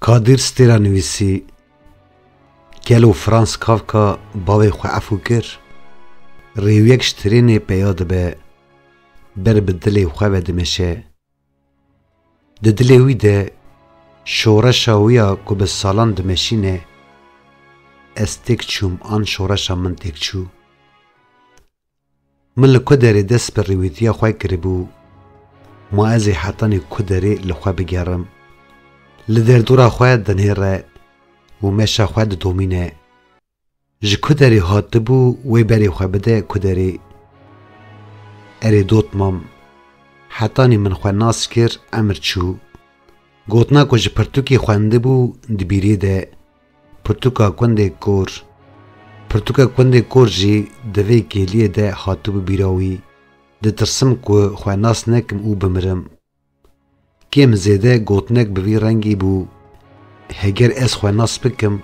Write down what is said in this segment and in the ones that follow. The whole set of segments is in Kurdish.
Kadir stêra nivîsî Gelo Frans Kafka bavê xwe efû kir? Rêwiyek ji trênê peya dibe, ber bi dilê xwe ve dimeşe. Di dilê wî de şoreşa wî ya ku bi salan dimeşîne, ez têk çûm an şoreşa min têk çû. Min li ku derê dest bi rêwîtiya xwe kiribû, ma ez ê hetanî ku derê li xwe bigerim. Li derdora xwe dinêre û meşa xwe didomîne. Ji ku derê hatibû wê berê xwe bide ku derê. Erê dot mam. Hetanî min xwe nas kir emir çû. Gotina ku ji pirtûkê xwendibû di bîrê de pirtûka kundê kor. Pirtûka kundê kor jî di vê kêliyê de hatibû bîra wî. Ditirsim ku xwe nas nekim û bimirim. Kêm zêde gotinek bi vî rengî bû, Heger ez xwe nas bikim,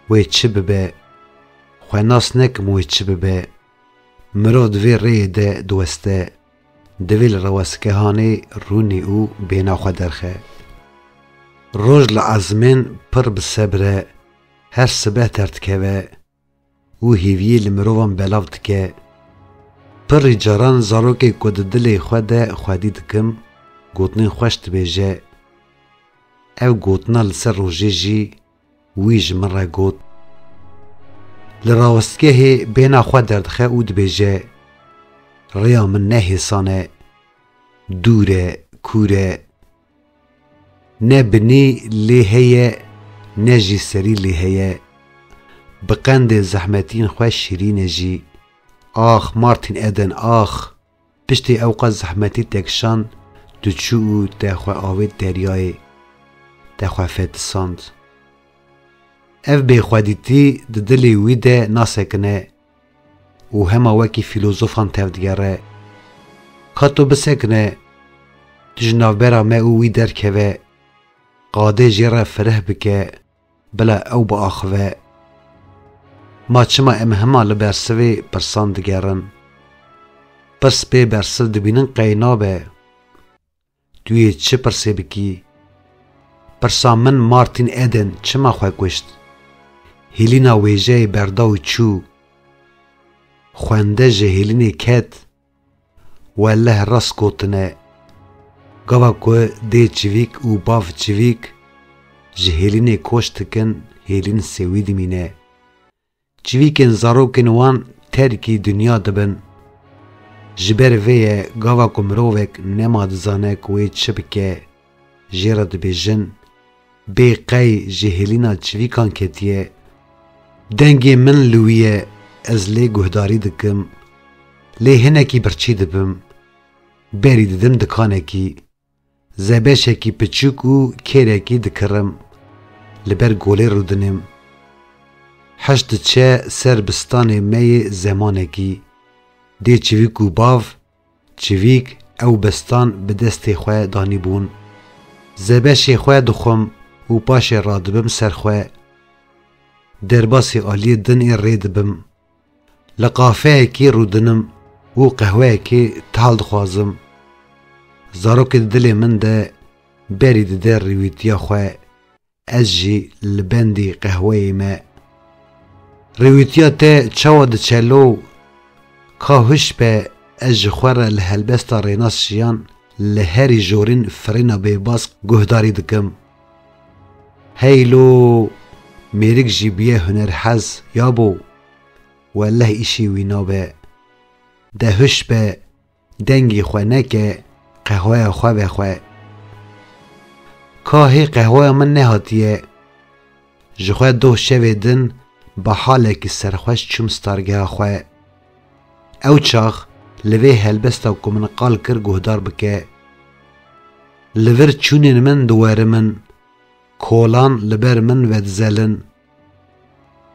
wê çi bibe, xwe nas nekim wê çi bibe, mirov di vê rêyê de diweste, divê li rewestkehanê rûnê û bêhna xwe derxe. Roj li ezmên pir bi sebre her sibeh derdikeve, Û hêviyê li mirovan belav dike. Pirrî caran zarokê ku di dilê xwe de xwedî dikim, gotinên xweş dibêje. Ev gotina li ser rojê jî wî ji min re got. Li rawestgehê bêhna xwe derdixe û dibêje, Rêya min ne hêsan e. Dûr e, kûr e, Ne binî lê heye ne jî serî lê heye Bi qendê zehmetîn xwe şîrîn e jî Ax Martin Eden ax Piştî ew qas zehmetî te kişand Tu çû û te xwe avêt deryayê Te xwe fetisand Ev bêxwedîtî di dilê wî de nasekine û hema wekî fîlozofan tevdigere. Ka tu bisekine, tu ji navbera me û wî derkeve, qadê jê re fireh bike, bila ew biaxive. Ma çima em hema li bersivê pirsan digerin? Pirs bê bersiv dibînin qey nabe. Tu yê çi pirsê bikî? Pirsa min Martin Eden çima xwe kuşt? Hîlîna wêjeyê berda û çû. Xwende ji hîlînê ket. Welleh rast gotine. Gava ku dê çivîk û bav çivîk ji hîlînê koç dikin hîlîn sêwî dimîne. Çivîkên zarokên wan terkî dinya dibin. Ji ber vê ye gava ku mirovek nema dizane ku wê çi bike jê re dibêjin, bê qey ji hêlîna çivîkan ketiye. Dengê min li wî ye, ez lê guhdarî dikim. Lê hinekî birçî dibim. Berî didim dikanekî. Zebeşekî piçûk û kêrekî dikirim, li ber golê rûdinêm. Heş diçe ser bi stanê me yê zemanekî. Dê çivîk û bav, çivîk ew bi stan bi destê xwe danîbûn. Zebeşê xwe dixwim û paşê radibim ser xwe. Derbasî aliyê din ê rê dibim. Li qafeyekî rûdinim û qehweyekê tal dixwazim. Zarokê di dilê min de berî dide rêwîtiya xwe, ez jî li bendî qehweyê me. Rêwîtiya te çawa diçelo û ka huş be ez ji xwe re li helbesta rênas jiyan li herî jorîn firêna bêbask guhdarî dikim. Hey lo mêrik jî bûye hunerhez ya bo welleh îşî wî nabe. De huş be dengî xwe neke qehweya xwe ve xwe. Ka hê qehweya min nehatiye. Ji xwe doh şevê din bi halekî serxweş çûm stargeha xwe. Ew çax li vê helbesta ku min qal kir guhdar bike, Li vir çûnên min diwerimin, kolan li ber min vedizelin.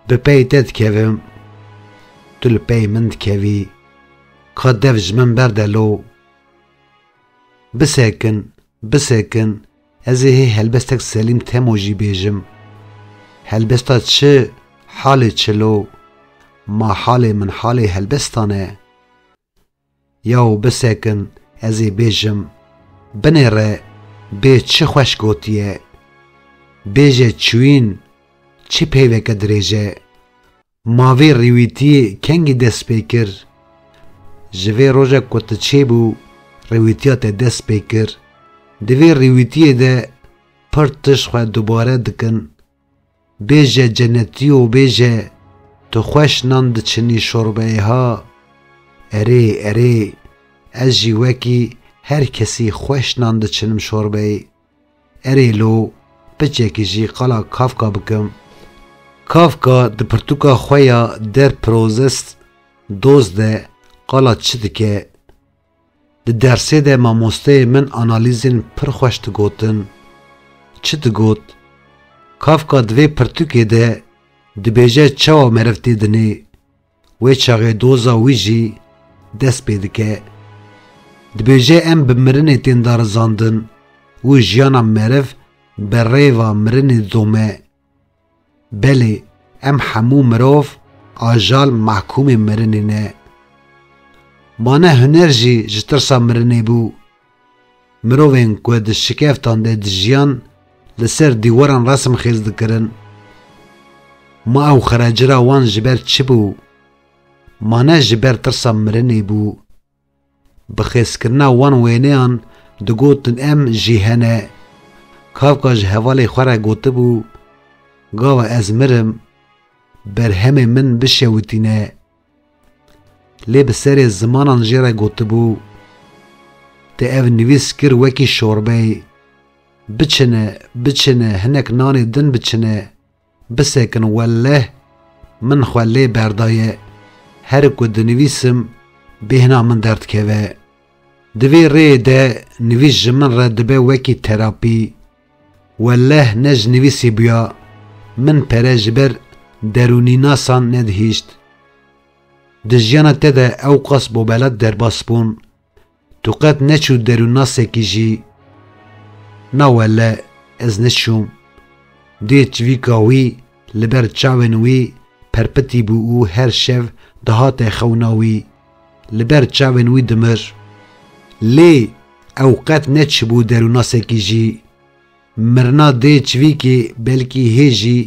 Bi pey te dikevim, tu li pey min dikevî, ka dev ji min berde lo. Bisekin, Bisekin, ez ê hê helbestek Selîm Temo jî bêjim. Helbesta çi, halê çi lo? Ma halê min halê helbestan e. Yaw bisekin, ez ê bêjim. Binê re, bê çi xweş gotiye. Bêje çûyîn, çi peyveke dirêj e. Ma vê rêwîtiyê kengî dest pê kir? Ji vê rojek ku tu çêbû rêwîtiya te dest pê kir? Di vê rêwîtiyê de pir tişt xwe dubare dikin. Bêje cenetî û bêje tu xweş nan diçinî şorbeyê ha. Erê, erê, ez jî wekî her kesî xweş nan diçinim şorbeyê. Erê lo piçekî jî qala Kafka bikim. Kafka di pirtûka xwe ya Der Prozest Dost de qala çi dike? Di dersê de mamosteyê min analîzên pir xweş digotin. Çi digot? Kafka di vê pirtûkê de dibêje çawa meriv tê dinê, Wê çaxê doza wî jî dest pê dike. Dibêje em bi mirinê tên darizandin û jiyana meriv bi rêva mirinê didome. Belê em hemû mirov ajal mehkûmê mirinê ne. Ma ne huner jî ji tirsa mirinê bû. Mirovên ku di şikeftan de dijiyan li ser dîwaran resim xêz dikirin. Ma ew xerecira wan ji ber çi bû? Ma ne ji ber tirsa mirinê bû. Bi xêzkirina wan wêneyan digotin em jî hene. Kafka ji hevalê xwe re gotibû, Gava ez mirim, berhemên min bişewitîne. Lê bi serê zimanan jê re gotibû, Te ev nivîs kir wekî şorbeyê, biçine, biçine, hinek nanê din biçine, bisekin welleh min xwe lê berdaye, her ku dinivîsim bêhna min derdikeve. Di vê rêyê de nivîs ji min re dibe wekî terapî. Welleh ne ji nivîsî bûya, min pere ji ber derûnînasan nedihîşt. Di jiyana te de ewqas bobelat derbas bûn, tu qet neçû derûnnasekî jî? Na welleh ez neçûm. Dê çivîka wî li ber çavên wî perpitî bû û her şev dihate xewna wî. Li ber çavên wî dimir. Lê ew qet neçibû derûnasekî jî. Mirina dê çivîkê belkî hê jî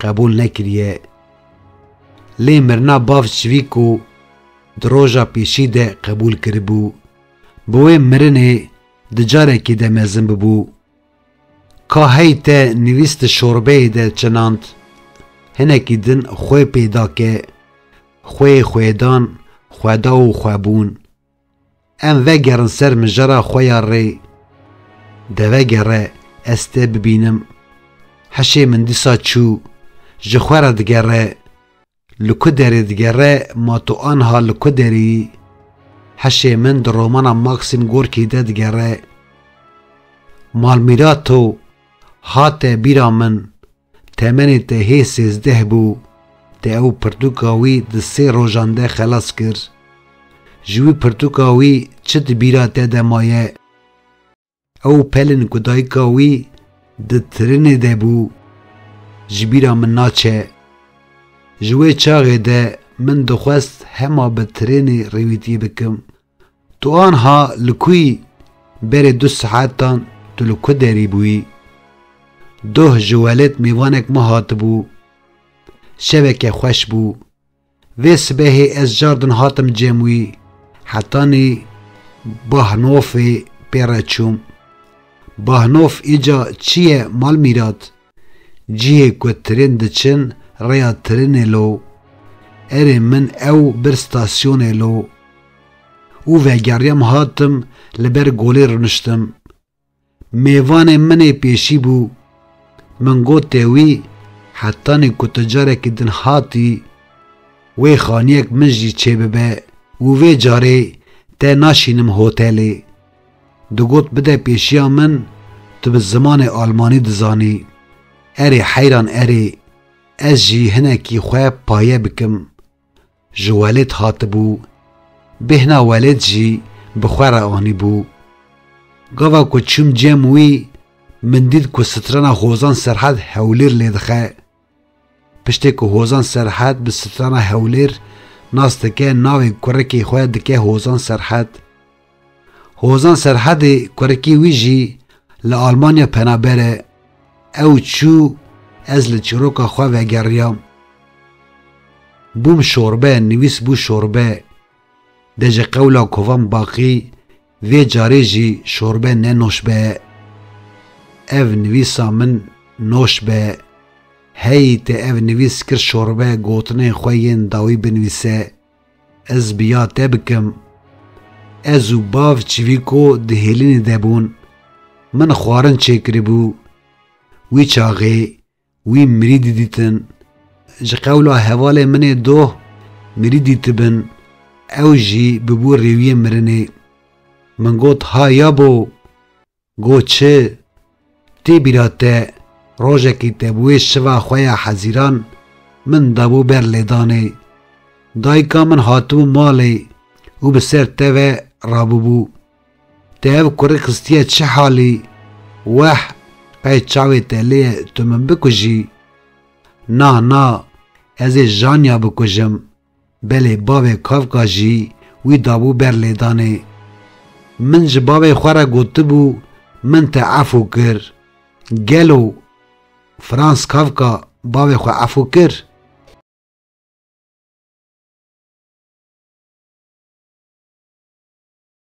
qebûl nekiriye. Lê mirina bav çivîko di roja pêşî de qebûl kiribû. Bi wê mirinê di carekê de mezin bibû. Ka hey te nivîs di şorbeyê de çinand, hinekî din xwe pê da ke xwe yê xwedan, xweda û xwebûn. Em vegerin ser mijara xwe ya rê. Devegere ez te bibînim. Heşê min dîsa çû, ji xwe re digere. Li ku derê digere ma tu anha li ku derî? Hişê min di romana Maxim Gorkî de digere. Malmîra to hate bîra min, temenê te hê sêzdeh bû, te ew pirtûka wî di sê rojan de xelas kir. Ji wî pirtûka wî çi di bîra te de maye? Ew pelin ku dayika wî di tirinê de bû ji bîra min naçe. Ji wê çaxê de min dixwest hema bi tirênê rêwîtî bikim. Tu anha li ku yî? Berê du saetan tu li ku derî bûyî? Doh ji Welêt mêvanek ma hatibû. Şeveke xweş bû. Vê sibehê ez cardin hatim cem wî, hetanî Bahnofê pê re çûm. Bahnof îca çi ye Malmîrat? Cihê ku tirên diçin rêya tirinê lo. Erê min ew bir stasyonê lo. Û vegeriyam hatim li ber golê runiştim. Mêvanê min ê pêşî bû. Min got tewî hetanî ku tu carekî din hatî wê xaniyek min jî çêbibe û vê carê te naşînim hotelê. Digot bide pêşiya min tu bi zimanê almanî dizanî. Erê heyran erê. Ez jî hinekî xwe paye bikim. ji welêt hatibû, bêhna welêt jî bi xwe re anîbû. Gava ku çûm cem wî, min dît ku strana Hozan Serhed Hewlêr lê dixe. Piştê ku Hozan Serhed bi strana Hewlêr nas dike navê kurekê xwe dike Hozan Serhed. Hozan Serhedê kurekî wî jî li Almanya penaber e, Ew çû ez li çîroka xwe vegeriyam. Bûm şorbe, nivîs bû şorbe. De ji qewla kovan baqî vê carê jî şorbe ne noşbe ye. Ev nivîsa min noş be. Heyî te ev nivîs kir şorbe gotinên xwe yên dawî binivîse. Ez bi ya te bikim. Ez û bav Çivîko di hêlînê de bûn. Min xwarin çêkiribû. Wî çaxê, wî mirî didîtin. Ji qewla hevalê min ê doh mirî dîtibin. Ew jî bûbû rêwiyê mirinê. Min got ha ya bo! Go çi? Tê bîra te rojekî te bi wê şiva xwe ya hezîran min dabû ber lêdanê. Dayika min hatibû malê û bi ser te ve rabûbû. Te ev kurê xistiye çi halî? Weh, qey çavê te lê ye tu min bikujî? Na, na, ez ê Janya bikujim. Belê bavê Kafka jî wî dabû ber lêdanê. Min ji bavê xwe re gotibû min te efû kir. Gelo Franz Kafka bavê xwe efû kir?